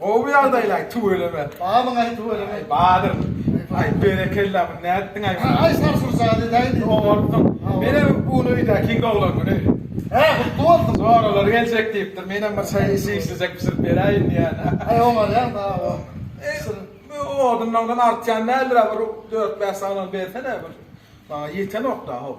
Gowy ýagdaýlaý tüweleme. Babyňaý tüweleme. Badyr. Aý berekella muny nätdiňaý muny. Aý sarsyrjaýdy daýdy. Gowy bolupdyr. Menem bu öýdäkiň doglangyny. Hä gutly bolsun. Joralar geljek diýipdir. Menem bir çaý içiýişlijek bişirip beräýin diýýän. Aý oňarýaň sag bol. Bişir. Bu odunlaňdan artýan däldir-ä bir dört bäş sagnal bersene bir. Maňa ýetenok-da hop.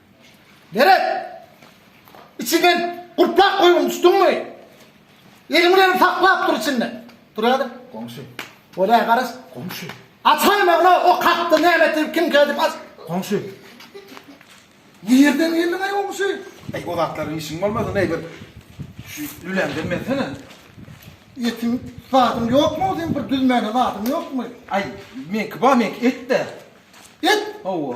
Gerek. Içinden gurtlap goýuň düşdüňmi? Eliň bilen saklap dur içinde. Dur hadi. Goňşy. Bolýa garas. Goňşy. Açaý magna o kakdy näme edip kim gelip aç. Goňşy. Nirden geldiň aý goňşy? Aý o zatlar işiň bolmasa ne bir şu lülämden bersene. Etiň zadyň ýokmy o sen bir düzmäne zadyň ýokmy? Aý meňki bar meňki etde. Et? Hawa.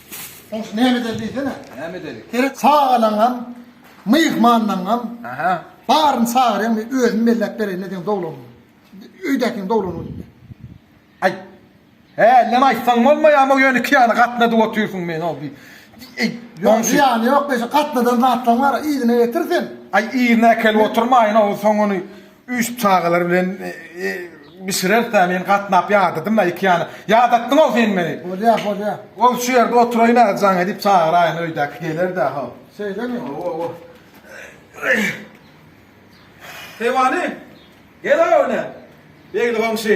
Soň şu näme edeli diýsene. Näme edeli? Seret çagalaňam, myhmanlaňam. Aha. Baryny çagyrýan men özüm belläp bereýin sen dowlanyň. Öýdäkiň dowlanyň üstüne. Aý. He, ellem aýtsaň bolmaýarmy, ýöne iki ýana gatnadyp otyrsyň men o bir. Eý, Ýok, ýany ýok, şu gatnadan zatlaň bar, yzyna getir sen. Aý, yzyna äkelip oturmaýyn, o soň ony Üýşüp çagalar bilen bişirersiä men gatnap ýadadym-a iki ýana. Ýadatdyň-ow sen meni. Bolýa, bolýa. Ol şu ýerde oturaýyn-a jaňa diýip çagyraýyn öýdäki geler-dä how. Şeýlemi? Hawa. Hewany, gel-ow ine. Begli goňşy,